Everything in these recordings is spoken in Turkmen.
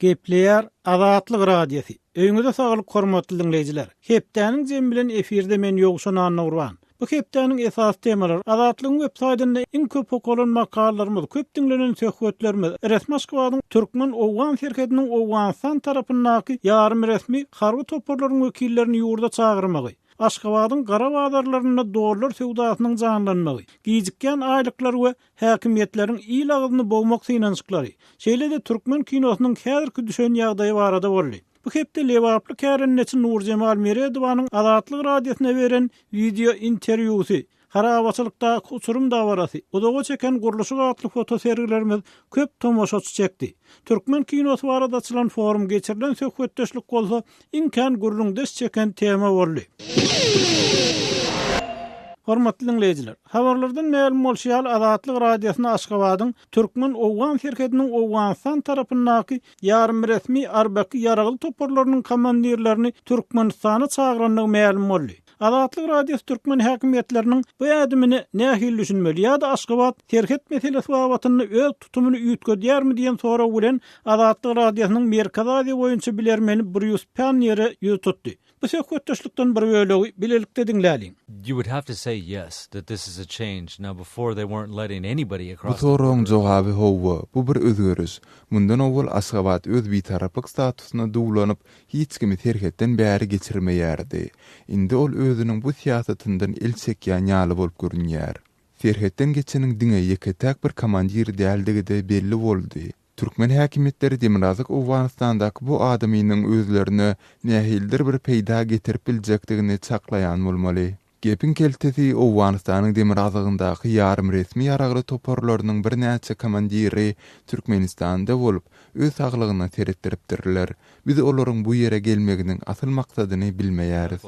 Gepleýär Azatlyk Radiosy. Öýňüze saglyk hormatly diňleýjiler. Hepdäniň jemi bilen efirde men Ýowşan Annagurban. Bu hepdäniň esasy temalary Azatlygyň web saýdynda iň köp okalan makalalarymyz, köp diňlenen söhbetlerimiz, resmAşgabadyň türkmen-owgan serhediniň Owganystan tarapyndaky ýarym resmi harby toparlaryň wekillerini ýurda çagyrmagy, Aşgabadyň gara bazarlarynda dollar söwdasynyň janlanmagy, gijikýän aýlyklar we häkimiýetleriň il agyzyny bogmak synanyşyklary, şeýle-de türkmen kinosynyň häzirki düşen ýagdaýy barada boldy. Bu hepde lebaply kärendeçi Nurjemal Meredowanyň Azatlyk Radiosyna beren wideointerwýusy, Harabaçylykdaky uçurym dabarasy, Uzaga çeken gurluşyk atly fotosergilerimiz köp tomaşaçy çekdi. Türkmen kinosy barada açylan forum geçirilen söhbetdeşlik bolsa Iň kän gürrüň des çeken tema boldy. Hormatly diňleýjiler! Habarlardan mälim bolşy ýaly Azatlyk Radiosyna Aşgabadyň türkmen-owgan serhediniň Owganystan tarapyndaky ýarymresmi Arbaky ýaragly toparlarynyň komandirlerini Türkmenistana çagyrandygy mälim boldy. Azatlyk Radiosy türkmen häkimiýetleriniň bu ädimine nähili düşünmeli ýa-da Aşgabat serhet meselesi babatynda öz tutumyny üýtgedýärmi diýen sorag bilen Azatlyk Radiosynyň Merkezi Aziýa boýunça bilermeni Brýus Panniýere ýüz tutdy. Bu söhbetdeşlikden bir bölegi bilelikde diňläliň. You would have to say yes, that this is a change. Now before they weren't letting anybody across the border. Bu soragyň jogaby howwa, bu bir özgeriş. Mundan owal Aşgabat öz bitaraplyk statusyna duwlanyp, hiç kimi serhetden bäri geçirmeýärdi. Indi ol özüniň bu syýasatyndan el çekýän ýaly bolup görünýär. Serhetden geçeniň diňe ýeke-täk bir komandir däldigi-de belli boldy. Türkmen häkimiýetleri demirgazyk Owganystandaky bu adamynyň özlerine nähilidir bir peýda getirip biljekdigini çaklaýan bolmaly. Gepiň keltesi, Owganystanyň demirgazygyndaky ýarymresmi ýaragly toparlarynyň birnäçe komandiri Türkmenistanda bolup, öz saglygyna seretdiripdirler. Biz olaryň bu ýere gelmeginiň asyl maksadyny bilmeýäris.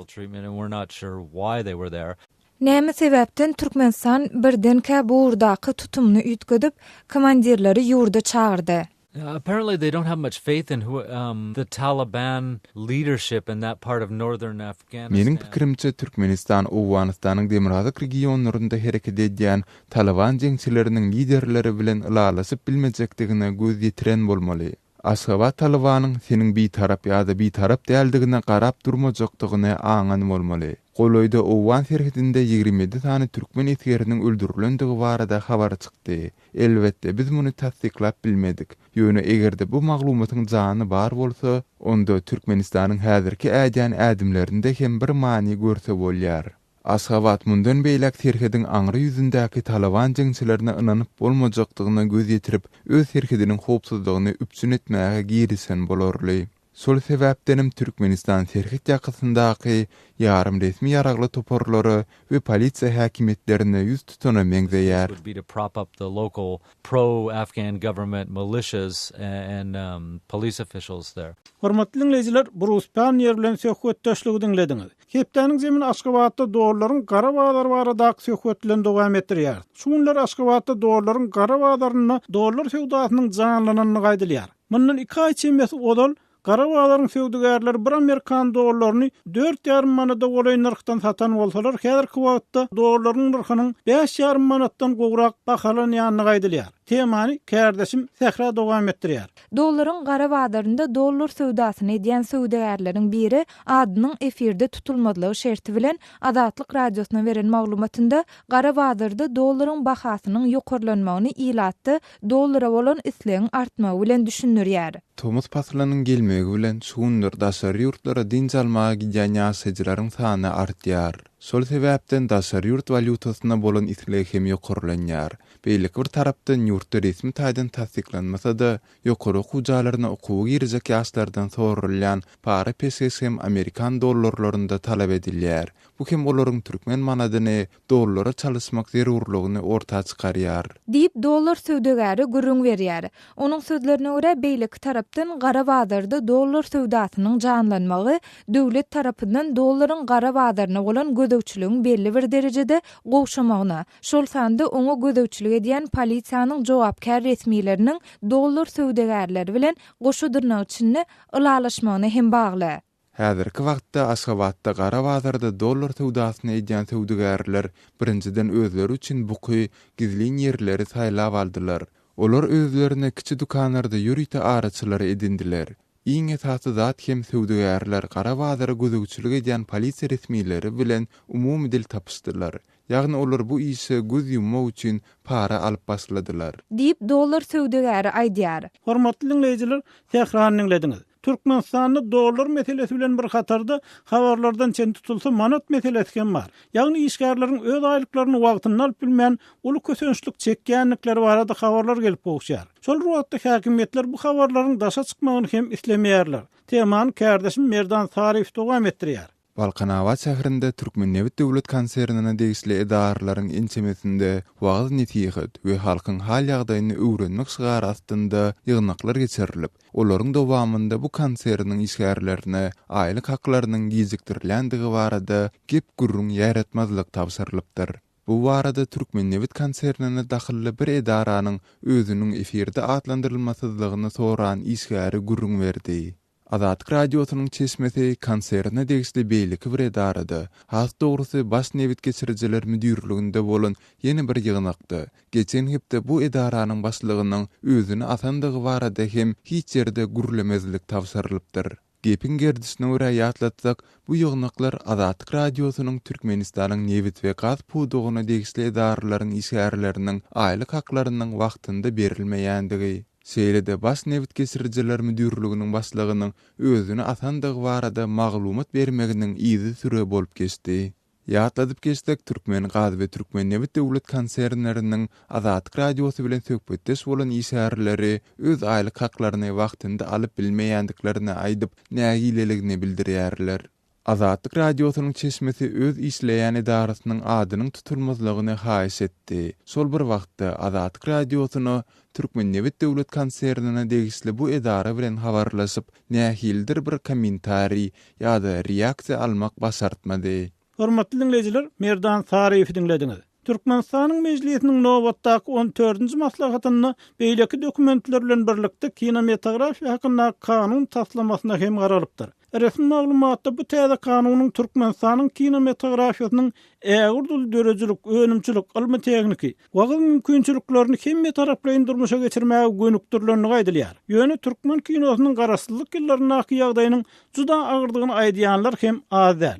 Näme sebäpden Türkmenistan birdenkä bu ugurdaky tutumyny üýtgedip, komandirleri ýurda çagyrdy? Apparently they don't have much faith in who um the Taliban leadership in that part of northern Afghanistan. Meniň pikirimçe Türkmenistan Owganystanyň demirgazyk regionlarynda hereket edýän Taliban jeňçileriniň liderleri bilen ylalaşyp bilmejekdigine göz ýetiren bolmaly. Aşgabat Talibanyň seniň bitarap ýa-da bitarap däldigine garap durmajakdygyny aňan bolmaly. Golaýda Owgan serhedinde ýigrimi ýedi sany türkmen esgeriniň öldürilendigi barada habar çykdy. Elbetde, biz muny tassyklap bilmedik. Ýöne eger-de bu maglumatyň jany bar bolsa, onda Türkmenistanyň häzirki ädýän ädimlerinde hem bir many görse bolýar. Aşgabat mundan beýläk serhediň aňry ýüzündäki Talyban jeňçilerine ynanyp bolmajakdygyna göz ýetirip, öz serhediniň howpsuzlygyny üpjün etmäge girişen bolarly. Şol sebäpdenem Türkmenistan serhet ýakasyndaky ýarym resmi ýaragly toparlara we polisiýa häkimiýetlerine ýüz tutana meňzeýär. Hormatly diňleýjiler, Brus Panniýer bilen söhbetdeşligi diňlediňiz. Hepdäniň jemini Aşgabatda dollaryň gara bazary baradaky söhbet bilen dowam etdirýäris. Şu günler Aşgabatda dollaryň gara bazarynda dollar söwdasynyň janlananyny gaýdylýar. Mundan iki aý çemesi ozal gara bazaryň söwdagärleri bir amerikan dollaryny dört ýarym manada golaý nyrhdan satan bolsalar, häzirki wagtda dollaryň nyrhynyň bäş ýarym manatdan gowrak bahalanýandygy aýdylýar. Temany kärdeşim Sähra dowam etdirýär. Dollaryň gara bazarynda dollar söwdasyny edýän söwdagärleriň biri adynyň efirde tutulmazlygy şerti bilen Azatlyk Radiosyna beren maglumatynda gara bazarda dollaryň bahasynyň ýokarlanmagyny ilatda dollara bolan islegiň artmagy bilen düşündirýär. Tomus paslynyň gelmegi bilen şu günler daşary ýurtlara dynç almaga gidýän ýaşaýjylaryň sany artýar. Şol sebäpden daşary ýurt walýutasyna bolan isleg hem ýokarlanýar. Beýleki bir tarapdan ýurtda resmi taýdan tassyklanmasa-da, ýokary okuw jaýlaryna okuwa girjek ýaşlardan soralýan para peşgeş hem amerikan dollarlarynda talap edilýär. Bu hem olaryň türkmen manadyny dollara çalyşmak zerurlygyny orta çykarýar. Diýip, dollar söwdagäri gürrüň berýär. Onuň sözlerine görä, beýleki tarapdan gara bazarda dollar söwdasynyň janlanmagy döwlet tarapyndan dollaryň gara bazaryna bolan gözegçiligiň belli bir derejede gowşamagyna, şol sanda oňa gözegçilik edýän polisiýanyň jogapkär resmileriniň dollar söwdagärleri bilen goşa dyrnak içinde ylalaşmagyna hem bagly. Häzirki wagtda Aşgabatda gara bazarda dollar söwdasyny edýän söwdagärler birinjiden özleri üçin buky, gizlin ýerleri saýlap aldylar. Olar özlerine kiçi dükanlarda ýörite araçylary edindiler. Iň esasy zat hem söwdagärler gara bazara gözegçilik edýän polisiýa resmileri bilen umumy dil tapyşdylar. Ýagny olar bu işe göz ýummak üçin para alyp başladylar. Diýip, dollar söwdagäri aýdýar. Hormatly diňleýjiler, Tährany diňlediňiz. Türkmenistanda dollar meselesi bilen bir hatarda, habarlardan çen tutulsa, manat meselesi hem bar. Ýagny işgärleriň öz aýlyklaryny wagtynda alyp bilmän, uly kösençlik çekýändikleri barada habarlar gelip gowuşýar. Şol bir wagtda häkimiýetler bu habarlaryň daşa çykmagyny hem islemeýärler. Temany kärdeşim Merdan Saryýew dowam etdirýär. Balkanabat şäherinde Türkmennebit döwlet konsernine degişli edaralaryň ençemesinde wagyz-nesihat we halkyň hal-ýagdaýyny öwrenmek şygary astynda ýygnaklar geçirilip, olaryň dowamynda bu konserniň işgärlerine aýlyk haklarynyň gijikdirilendigi barada gep-gürrüň ýaýratmazlyk tabşyrylypdyr. Bu barada Türkmennebit konsernine dahylly bir edaranyň özüniň efirde atlandyrylmasyzlygyny soran işgäri gürrüň berdi. Azatlyk Radiosynyň çeşmesi konserne degişli beýleki bir edarada, has dogrusy Baş nebit geçirijiler müdirliginde bolan ýene bir ýygnakda, geçen hepde bu edaranyň başlygynyň özüni asandygy barada hem hiç ýerde gürlemezlik tabşyrylypdyr. Gepiň gerdişine görä ýatlatsak, bu ýygnaklar Azatlyk Radiosynyň Türkmenistanyň nebit we gaz pudagyna degişli edaralaryň işgärleriniň aýlyk haklarynyň wagtynda berilmeýändigi, Şeýle-de Baş nebit geçirijiler müdirliginiň başlygynyň özüni atandygy barada maglumat bermeginiň yzy süre bolup geçdi. Ýatladyp geçsek, Türkmengaz we Türkmennebit döwlet konsernleriniň Azatlyk Radiosy bilen söhbetdeş bolan işgärleri öz aýlyk haklaryny wagtynda alyp bilmeýändiklerini aýdyp, nägileligini bildirýärler. Azatlyk Radiosynyň çeşmesi öz işleýän edarasynyň adynyň tutulmazlygyny haýyş etdi. Şol bir wagtda, Azatlyk Radiosyna Türkmennebit döwlet konsernine degişli bu edara bilen habarlaşyp, nähilidir bir kommentariý ýa-da reaksiýa almak başartmady. Hormatly diňleýjiler, Merdan Saryýewi diňlediňiz. Türkmenistanyň Mejlisiniň nobatdaky on dördünji maslahatynda beýleki dokumentler bilen birlikde kinomatografiýa hakyndaky kanun taslamasyna hem garalypdyr. Resmi maglumatda bu täze kanunyň Türkmenistanyň kinomatografiýasynyň ägirt uly döredijilik, önümçilik, ylmy-tehniki, wagyz mümkinçiliklerini hemmetaraplaýyn durmuşa geçirmäge gönükdirilendigi aýdylýar. Ýöne türkmen kinosynyň garaşsyzlyk ýyllaryndaky ýagdaýynyň juda agyrdygyny aýdýanlar hem az däl.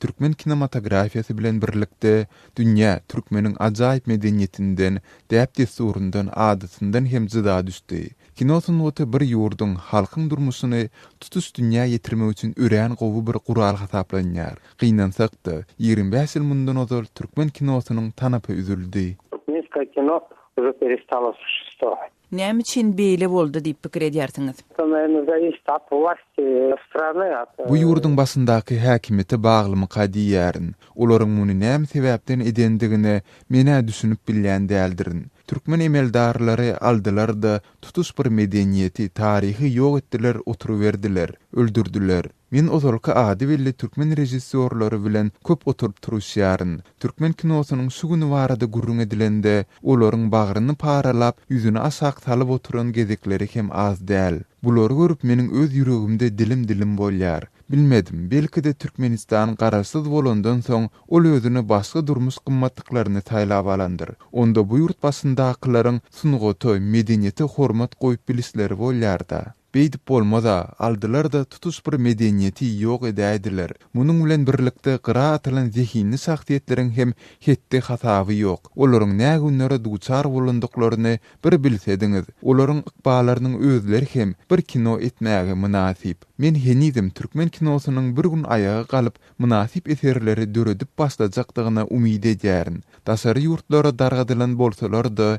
Türkmen kinematografiýasy bilen birlikde, dünýä türkmeniň ajaýyp medeniýetinden, däp-dessuryndan, adatyndan hem jyda düşdi. Kino sungaty bir ýurduň, halkyň durmuşyny tutuş dünýä ýetirmek üçin örän gowy bir gural hasaplanýar. Gynansak-da, ýigrimi bäş ýyl mundan ozal türkmen kinosynyň tanapy üzüldi. Türkmenskoe kino uje perestalosuşestvo. Näme üçin beýle boldy diýip pikir edýärsiňiz? Bu ýurduň başyndaky häkimiýete baglymyka diýýärin. Olaryň muny näme sebäpden edendigine men-ä düşünip bilýän däldirin. Türkmen emeldarlary aldylar-da, tutuş bir medeniýeti, taryhy ýok etdiler oturyberdiler, öldürdiler. Men ozalky ady belli türkmen režissýorlary bilen köp oturyp-turuşýaryn. Türkmen kinosynyň şu güni barada gürrüň edilende, olaryň bagryny paralap, ýüzüni aşak salyp oturan gezekleri hem az däl. Bulary görüp meniň öz ýüregimde dilim-dilim bolýar. Bilmedim, belki-de Türkmenistan garaşsyz bolandan soň, ol özüne başga durmuş gymmatlyklaryny saýlap alandyr. Onda bu ýurt başyndakylaryň sungata, medeniýete hormat goýup bilişleri bolýar-da. Beýdip bolmaz-a, aldylar-da tutuş bir medeniýeti ýok edäýdiler. Munuň bilen birlikde gyra atylan zehinli şahsyýetleriň hem hetdi-hasaby ýok. Olaryň nä günlere duçar bolandyklaryny bir bilsediňiz. Olaryň ykballarynyň özleri hem bir kino etmäge mynasyp. Men henizem türkmen kinosynyň bir gün aýaga galyp, mynasyp eserleri döredip başlajakdygyna umyt edýärin. Daşary ýurtlara dargadylan bolsalar-da,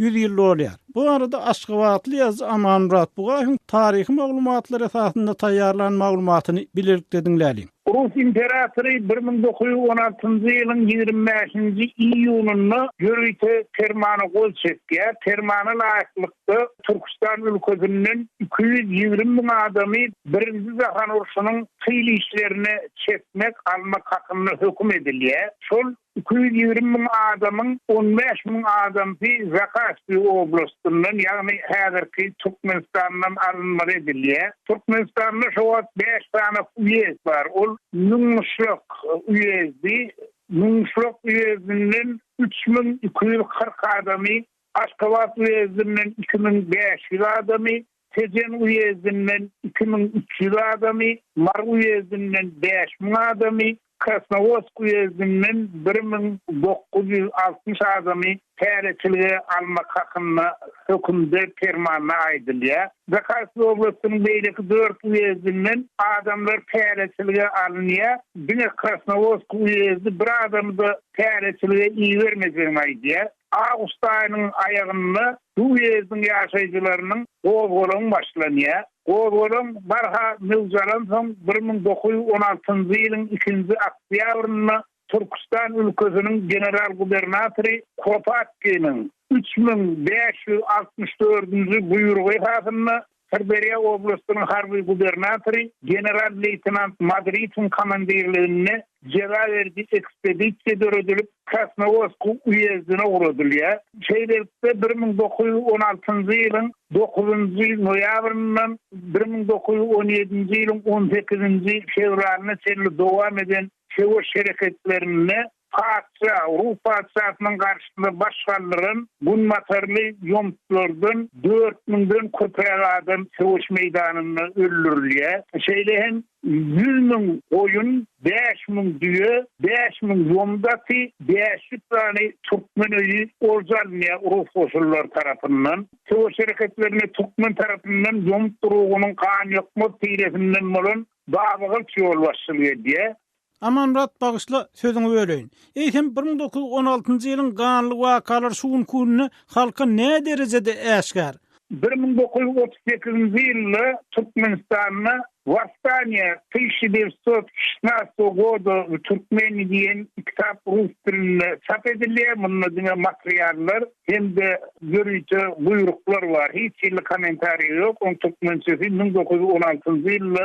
ýüz ýyl dolýar. Bu barada aşgabatly ýazyjy Amanmyrat Bugaýewiň taryhy maglumatlar esasynda taýýarlan maglumatyny bilelikde diňläliň. Rus imperatory bir müň dokuz ýüz on altynjy ýylyň ýigrimi bäşinji iýunynda ýörite permana gol çekýär. Permana laýyklykda, Türküstan ülkesinden iki ýüz ýigrimi müň adamy Birinji jahan urşunyň tyl işlerine çekmek, almak hakynda höküm edilýär. Şol Iki ýüz ýigrimi müň adamyň on bäş müň adamsy Zahaspi oblastyndan, ýagny häzirki Türkmenistandan alynmaly edilýär. Türkmenistanda şo wagt bäş sany uýezd bar. Ol Müňmuşlak uýezdi. Müňmuşlak uýezdinden üç müň iki ýüz kyrk adamy, Aşgabat uýezdinden iki müň bäş ýüz adamy, Tejen uýezdinden iki müň üç ýüz adamy, Mary uýezdinden bäş müň adamy, Krasnowodsk uýezdinden bir müň dokuz ýüz altmyş adamy täreçilige almak hakynda hökümde, permanda aýdylýar. Zakarsky oblastynyň beýleki dört uýezdinden adamlar täreçilige alynýar, diňe Krasnowodsk uýezdi bir adamy-da täreçilige ibermejegini aýdýar. Awgust aýynyň aýagynda bu uýezdiň ýaşaýjylarynyň gozgalaň başlanýar. Gozgalaň barha möwjalansoň bir müň dokuz ýüz on altynjy ýylyň ikinji oktýabrynda Türküstan ülkesiniň general-gubernatory Kropatkiniň üç müň bäş ýüz altmyş dördünji buýrugy esasynda Syrderýa oblastynyň harby gubernatory general-leýtenant Madridiň komandirliginde jeza beriji ekspedisiýa döredilip, Krasnowodsk uýezdine ugradylýar. Şeýlelikde, bir müň dokuz ýüz on altynjy ýylyň dokuzynjy noýabryndan bir müň dokuz ýüz on ýedinji ýylyň on sekizinji fewralyna çenli dowam eden söweş hereketlerinde Patyşa rus patyşasynyň garşysyna baş galdyran günbatarly ýomutlardan dört müňden köpräk adam söweş meýdanynda öldürilýär. Şeýle hem ýüz müň goýun, bäş müň düýe, bäş müň ýomut aty, bäş ýüz sany türkmen öýi olja alynýar rus goşunlary tarapyndan. Söweş hereketlerinde türkmen tarapyndan ýomut urugynyň ganýokmaz tiresinden bolan Babagylyç ýolbaşçylyk edýär. Amanmyrat bagyşla sözüňi böleýin. Eýsem bir müň dokuz ýüz on altynjy ýylyň ganly wakalar şu günki günde halka nä derejede äşgär? Bir müň dokuz ýüz otuz sekizinji ýylda Türkmenistanda Wostaniýa tysiýa dewiýt sot şestnastogo goda w Türkmeni diýen kitap rus dilinde çap edilýär. Munda diňe materiallar hem-de ýörite buýruklar bar. Hiç hili kommentariýa ýok. Oň türkmençesi müň dokuz ýüz on altynjy ýylda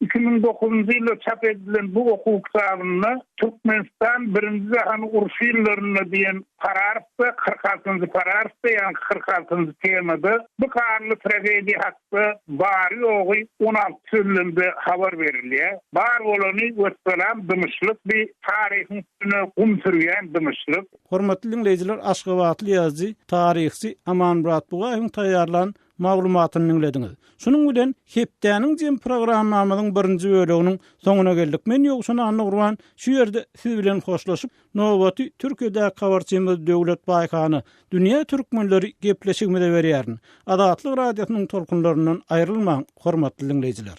Iki müň dokuzynjy ýylda çap edilen bu okuw kitabynda Türkmenistan Birinji jahan urşy ýyllarynda diýen pararfda, kyrk altynjy pararfda, ýagny kyrk altynjy temada bu ganly tragediýa hakda bary-ýogy on alty sözlemde habar berilýär. Bar bolany, wessalam, dymyşlyk, bi taryhyň üstüne gum sürýän dymyşlyk. Hormatly diňleýjiler, aşgabatly ýazyjy, taryhçy Amanmyrat Bugaýewiň taýýarlan maglumatyny diňlediňiz. Şunuň bilen hepdäniň jem programmamyzyň birinji böleginiň soňuna geldik. Men Ýowşan Annagurban şu ýerde siz bilen hoşlaşyp, nobaty Türkiýedäki habarçymyz Döwlet Baýhana, Dünýä türkmenleri gepleşigimize berýärin. Azatlyk Radiosynyň tolkunlaryndan aýrylmaň, hormatly diňleýjiler!